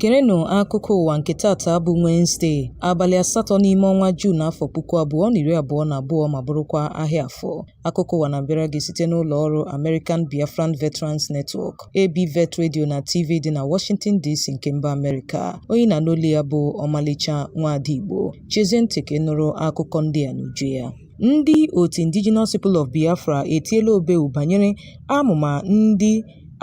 Gerenụ akụkọ ụwa nke tata bụ Wenezde, abalị asatọ n'ime ọnwa Juun afọ puku abụọ na iri abụọ na abụọ ma bụrụkwa ahịa Afọ. Akụkọ ụwa na-abịara gị site n'ụlọ ọrụ American Biafran Veterans Network, ABVET Radio na TV dị na Washington DC nke mba Amerịka. Onye ị na-anụ olu ya bụ Ọmalịcha Nwaada Igbo. Chezie ntị ka ị nụrụ akụkọ ndị a n'uju ya. Ndị otu Indigenous People of Biafra etiela obeu banyere amụma ndị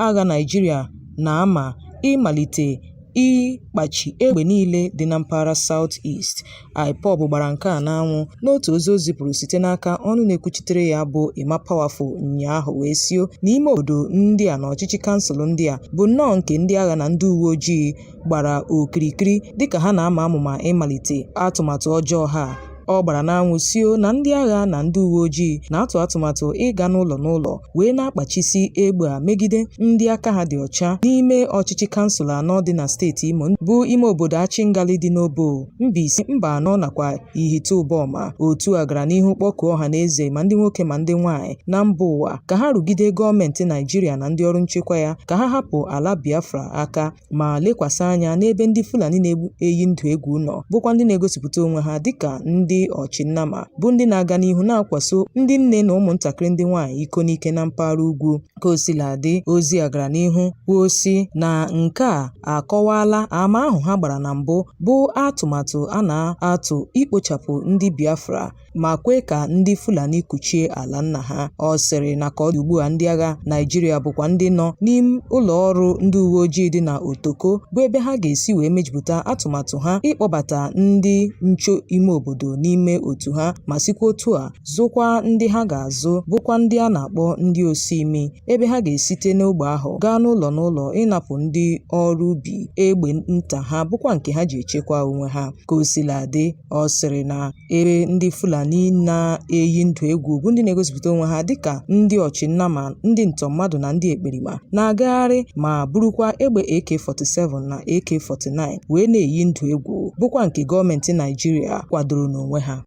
agha Naịjirịa na-ama ịmalite ịkpachi egbe niile dị na mpaghara South East. IPOB gbara nke a n'anwụ n'otu ozi o zipụrụ site n'aka ọnụ na-ekwuchitere ya bụ Emma Powerful ụnyaahụ wee sio na ime obodo ndị a na ọchịchị kansụl ndị a bụ nnọọ nke ndị agha na ndị uwe ojii gbara okirikiri dịka ha na-ama amụma ịmalite atụmatụ ọjọọ ha ọ gbara n'anwụ sio na ndị agha na ndị uwe ojii na-atụ atụmatụ ịga n'ụlọ n'ụlọ wee na-akpachisi egbe a megide ndị aka ha dị ọcha n'ime ọchịchị kansụl anọ dị na steeti Imo bụ ime obodo Achingali dị n'Obowo Mbaise Mbanọ nakwa Ihite Ụbọma otu a gara n'ihu kpọkuo ọha na eze ma ndị nwoke ma ndị nwaanyị na mba ụwa ka ha rụgide gọọmenti Naịjirịa na ndị ọrụ nchekwa ya ka ha hapụ ala Biafra aka ma lekwasị anya n'ebe ndị Fulani na-eyi ndụ egwu nọ bụkwa ndị na-egosipụta onwe ha dịka ndị ọchịnnama bụ ndị na-aga n'ihu na-akwaso ndị nne na ụmụntakịrị ndị nwaanyị iko n'ike na mpaghara ugwu ka o sila dị ozi a gara n'ihu kwuo sị na nke a akọwaala ama ahụ ha gbara na mbụ bụ atụmatụ a na-atụ ikpochapụ ndị Biafra ma kwee ka ndị Fulani kuchie ala nna ha. Ọ sịrị na ka ọ dị ugbua ndị agha Naịjirịa bụkwa ndị nọ n'ime ụlọọrụ ndị uweojii dị na Otoko bụ ebe ha ga-esi wee mejupụta atụmatụ ha ịkpọbata ndị nche ime obodo n'ime otu ha ma sikwa otu a zụkwaa ndị ha ga-azụ bụkwa ndị a na-akpọ ndị osuimi ebe ha ga-esite n'ogbe ahụ gaa n'ụlọ n'ụlọ ịnapụ ndị ọrụ ubi egbe nta ha bụkwa nke ha ji echekwa onwe ha. Ka o sila dị, ọ sịrị na ebe ndị Fulani na-eyi ndụ egwu bụ ndị na-egosipụta onwe ha dịka ndị ọchị nnama ndị ntọ mmadụ na ndị ekperima na-agagharị ma burukwa egbe AK-47 na AK-49 wee na-eyi ndụ egwu bụkwa nke gọọmenti Naịjirịa kwadoro n'onwe ha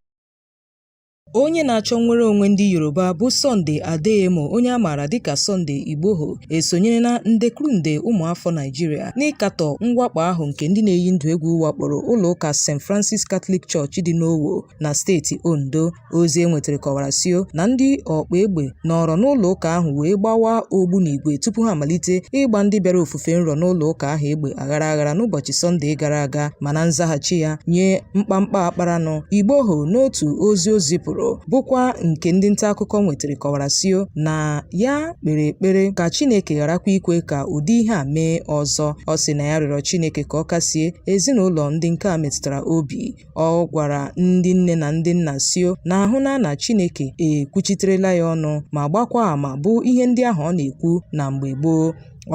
Onye na-achọ nnwere onwe ndị Yoruba bụ Sunday Adeyemo onye a maara dịka Sunday Igboho esonyerela nde kwuru nde ụmụafọ Naịjirịa n'ịkatọ mwakpo ahụ nke ndị na-eyi ndụ egwu wakporo ụlọ ụka St. Francis Catholic Church dị n'Owo na steeti Ondo. Ozi e nwetara kọwara sio na ndị ọkpa egbe nọrọ n'ụlọ ụka ahụ wee gbawa ogbunigwe tupu ha amalite ịgba ndị bịara ofufe nro n'ụlọ ụka ahụ egbe aghara aghara n'ụbọchị Sọnde gara aga ma na nzaghachi ya nye mkpamkpa a kparanụ Igboho n'otu ozi o zipụrụ bụkwa nke ndị nta akụkọ nwetara kọwara sio na ya kpere ekpere ka Chineke gharakwa ikwe ka ụdị ihe a mee ọzọ ọ sịrị na ya rịọrọ Chineke ka ọ kasie ezinụlọ ndị nke a metụtara obi ọ gwara ndị nne na ndị nna sio na ahụna na Chineke ekwuchiterela ya ọnụ ma gbakwa ama bụ ihe ndị ahụ ọ na-ekwu na mgbe gboo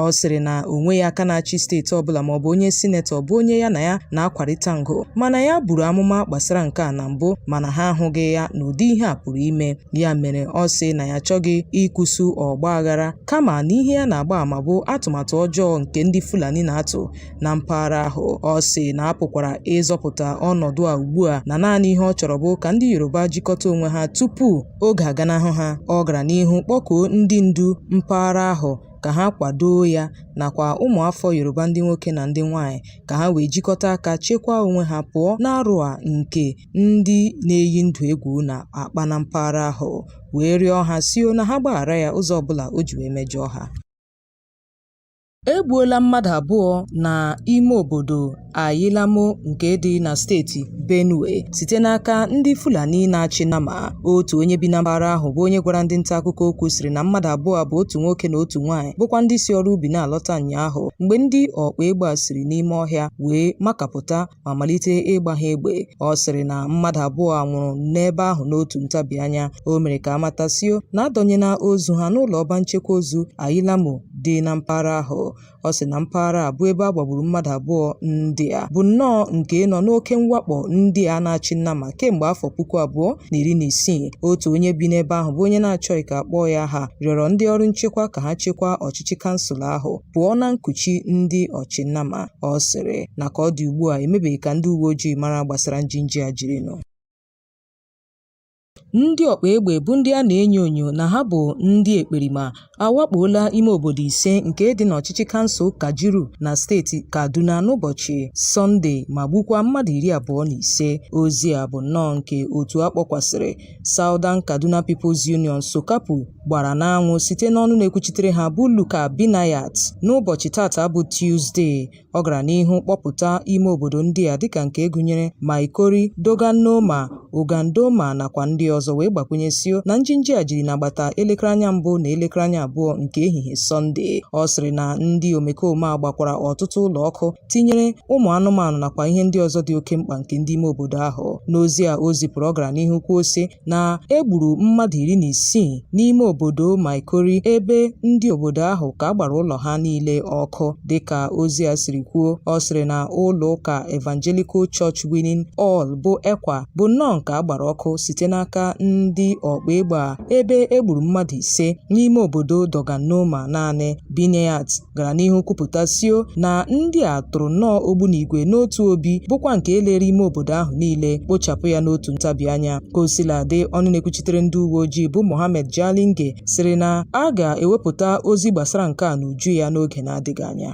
ọ sịrị na o nweghị aka na-achị steeti ọbụla maọbụ onye sinetọ bụ onye ya na ya na-akwarịta ngo mana ya buru amụma gbasara nke a na mbụ mana ha ahụghị ya na ụdị ihe a pụrụ ime ya mere ọ sị na ya achọghị ịkụsu ọgba aghara kama na ihe ya na-agba ama bụ atụmatụ ọjọọ nke ndị Fulani na-atụ na mpaghara ahụ ọ sị na a pụkwara ịzọpụta ọnọdụ a ugbu a na naanị ihe ọ chọrọ bụ ka ndị Yoruba jikọta onwe ha tupu oge aganahụ ha ọ gara n'ihu kpọkuo ndị ndu mpaghara ahụ ka ha kwadoo ya nakwa ụmụafọ Yoruba ndị nwoke na ndị nwaanyị ka ha wee jikọta aka chekwaa onwe ha pụọ n'arụ a nke ndị na-eyi ndụ egwu na-akpa na mpaghara ahụ wee rịọ ha sio na ha gbaghara ya ụzọ ọbụla o ji wee mejọọ ha e gbuola mmadụ abụọ na ime obodo Ayilamo nke dị na steeti Benue site n'aka ndị Fulani na-achị nama otu onye bi na mpaghara ahụ bụ onye gwara ndị nta akụkọ okwu sịrị na mmadụ abụọ bụ otu nwoke na otu nwaanyị bụkwa ndị si ọrụ ubi na-alọta ụnyaahụ mgbe ndị ọkpa egbe a siri n'ime ọhịa wee makapụta ma malite ịgba ha egbe. Ọ sịrị na mmadụ abụọ a nwụrụ n'ebe ahụ n'otu ntabi anya. O mere ka a mata sio na a dọnyela ozu ha n'ụlọ ọba nchekwa ozu Ayilamo dị na mpaghara ahụ. Ọ sịrị na mpaghara a bụ ebe a gbagburu mmadụ abụọ ndị a bụ nnọọ nke nọ n'oke mwakpo ndị a na-achị nama kemgbe afọ puku abụọ na iri na isii. Otu onye bi n'ebe ahụ bụ onye na-achọghị ka a kpọọ ya aha rịọrọ ndị ọrụ nchekwa ka ha chekwaa ọchịchị kansụl ahụ. pụọ na nkuchi ndị ọchị nama. Ọ sịrị na ka ọ dị ugbu a emebeghị ka ndị uwe ojii mara gbasara njinji a jirinụ. Ndị ọkpa egbe bụ ndị a na-enyo enyo na ha bụ ndị ekperima awakpoola ime obodo ise nke dị n'ọchịchị kansụl Kajuru na steeti Kaduna n'ụbọchị Sọnde ma gbukwaa mmadụ iri abụọ na ise. Ozi a bụ nnọọ nke otu a kpọkwasịrị Southern Kaduna People's Union, SOKAPU, gbara n'anwụ site n'ọnụ na-ekwuchitere ha bụ Luka Binayat n'ụbọchị tata bụ Tuzde. Ọ gara n'ihu kpọpụta ime obodo ndị a dịka nke gụnyere Maikori, Dogannoma, Ogandoma nakwa ndị ọzọ wee gbakwụnye sio na njinji a jiri n'agbata elekere anya mbụ na elekere anya abụọ nke ehihie Sọnde. Ọ sịrị na ndị omekome a gbakwara ọtụtụ ụlọ ọkụ tinyere ụmụ anụmanụ nakwa ihe ndị ọzọ dị oke mkpa nke ndị ime obodo ahụ. N'ozi a o zipụrụ ọ gara n'ihu kwuo sị na e gburu mmadụ iri na isii n'ime obodo Maikori ebe ndị obodo ahụ ka a gbara ụlọ ha niile ọkụ dịka ozi a siri kwuo ọ sịrị na ụlọ ụka Evangelical Church Winning All bụ ECWA bụ nnọọ nke a gbara ọkụ site n'aka ndị ọkpa egbe a ebe e gburu mmadụ ise n'ime obodo Dogannoma naanị Binayat gara n'ihu kwupụta sio na ndị a tụrụ nnọọ ogbunigwe n'otu obi bụkwa nke lere ime obodo ahụ niile kpochapụ ya n'otu ntabi anya ka o sila dị ọnụ na-ekwuchitere ndị uwe ojii bụ Mohammed Jalinge sịrị na a ga-ewepụta ozi gbasara nke a n'uju ya n'oge na-adịghị anya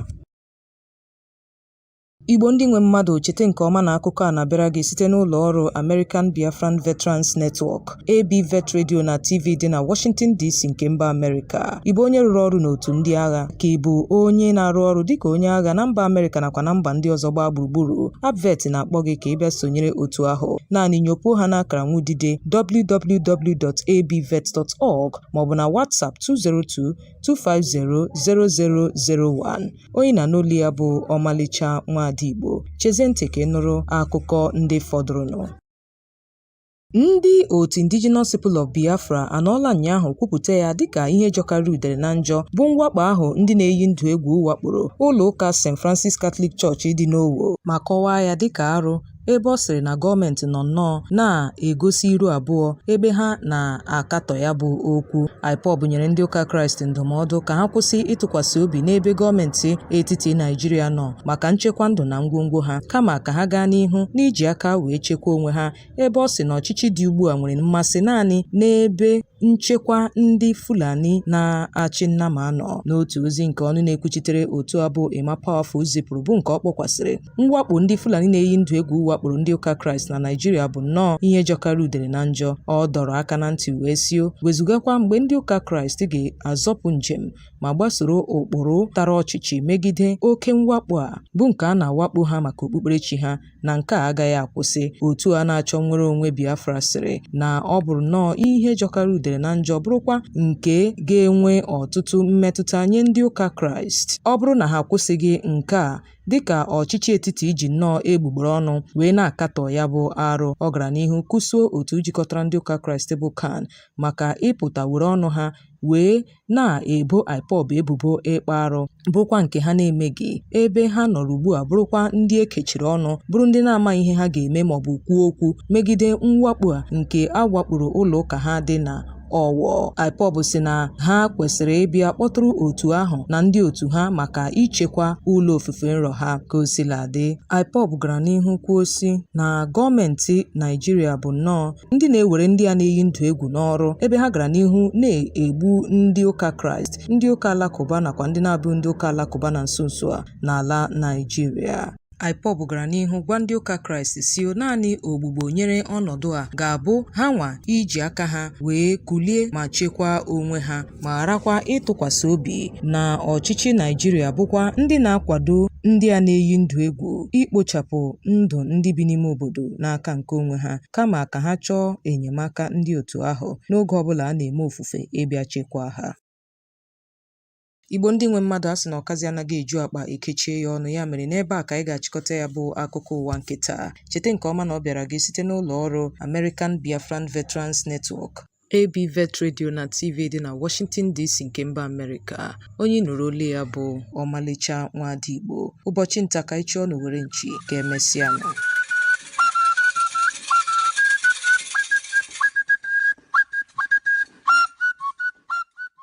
Igbo ndị nwe mmadụ cheta nke ọma na akụkọ a na-abịara gị site n'ụlọ ọrụ American Biafran Veterans Network, ABVET Radio na TV dị na Washington DC nke mba Amerịka. Ị bụ onye rụrụ ọrụ n'otu ndị agha ka ị bụ onye na-arụ ọrụ dịka onye agha na mba Amerịka nakwa na mba ndị ọzọ gbaa gburugburu, ABVET na-akpọ gị ka ị bịa sonyere otu ahụ. Naanị nyopuo ha n'akara nwudide www.abvet.org maọbụ na WhatsApp 202 2500001 onye ị na-anụ olu ya bụ ọmalịcha nwaada Igbo chezie ntị ka ị nụrụ akụkọ ndị fọdụrụnụ Ndị otu Indigenous People of Biafra anọọla ụnyaahụ kwupụta ya dịka ihe jọkarịrị udere na njọ bụ mwakpo ahụ ndị na-eyi ndụ egwu wakporo ụlọ ụka St. Francis Catholic Church dị n'Owo ma kọwaa ya dịka arụ ebe ọ sịrị na gọọmenti nọ nnọọ na-egosi iru abụọ ebe ha na-akatọ ya bụ okwu IPOB nyere ndị ụka kraịst ndụmọdụ ka ha kwụsị ịtụkwasị obi n'ebe gọọmenti etiti naijiria nọ maka nchekwa ndụ na ngwongwo ha kama ka ha gaa n'ihu n'iji aka wee chekwa onwe ha ebe ọ sị na ọchịchị dị ugbu a nwere mmasị naanị n'ebe nchekwa ndị fulani na-achị nnama anọ n'otu ozi nke ọnụ na-ekwuchitere otu a bụ Emma Powerful zipụrụ bụ nke ọ kpọkwasịrị Mwakpo ndị Fulani na-eyi ndụ egwu wakporo ndị ụka Kraịst na Naịjirịa bụ nnọọ ihe jọkarịrị udere na njọ. Ọ dọrọ aka na ntị wee sio wezugakwa mgbe ndị ụka Kraịst ga-azọpụ njem ma gbasoro ụkpụrụ tara ọchịchị megide oke mwakpo a bụ nke a na-awakpo ha maka okpukperechi ha na nke a agaghị akwụsị. Otu a na-achọ nnwere onwe Biafra sịrị na ọ bụrụ nnọọ ihe jọkarịrị udere na njọ bụrụkwa nke ga-enwe ọtụtụ mmetụta nye ndị ụka Kraịst ọ bụrụ na ha akwụsịghị nke a dịka ọchịchị etiti ji nnọọ egbugbere ọnụ wee na-akatọ ya bụ arụ ọ gara n'ihu kwụsụo otu jikọtara ndị ụka kraịst bụ CAN maka ịpụta were ọnụ ha wee na-ebo IPOB ebubo ịkpa arụ bụrụkwa nke ha na-emeghị ebe ha nọrọ ugbu a bụrụkwa ndị e kechiri ọnụ bụrụ ndị na-amaghị ihe ha ga-eme maọbụ kwuo okwu megide mwakpo a nke a wakporo ụlọ ụka ha dị na Ọwọ IPOB sị na ha kwesịrị ịbịa kpọtụrụ otu ahụ na ndị otu ha maka ichekwa ụlọ ofufe nru ha ka o sila dị IPOB gara n'ihu kwuo sị na gọọmenti Naijiria bụ nnọọ ndị na-ewere ndị a na-eyi ndụ egwu n'ọrụ ebe ha gara n'ihu na-egbu ndị ụka Kraịst ndị ụka alakụba nakwa ndị na-abụghị ndị ụka alakụba na nso nso a n'ala Naijiria IPOB gara n'ihu gwa ndị ụka Kraịst sị naanị ogbugbo nyere ọnọdụ a ga-abụ ha nwa iji aka ha wee kulie ma chekwaa onwe ha ma gharakwa ịtụkwasị obi na ọchịchị Naijiria bụkwa ndị na-akwado ndị a na-eyi ndụ egwu ikpochapụ ndụ ndị bi n'ime obodo n'aka nke onwe ha kama ka ha chọọ enyemaka ndị otu ahụ n'oge ọbụla a na-eme ofufe ịbịa chekwaa ha. Igbo ndị nwe mmadụ a sị na ọkazị anaghị eju akpa e kechie ya ọnụ ya mere n'ebe a ka anyị ga-achịkọta ya bụ akụkọ ụwa nke taa. Cheta nke ọma na ọ bịara gị site n'ụlọ ọrụ American Biafran Veterans Network. AB Vet Radio na TV dị na Washington DC nke mba Amerịka. Onye nụrụ olu ya bụ Ọmalịcha Nwaada Igbo. Ụbọchị nta ka anyị chụọ n'owere nchi ka emesịa nụ.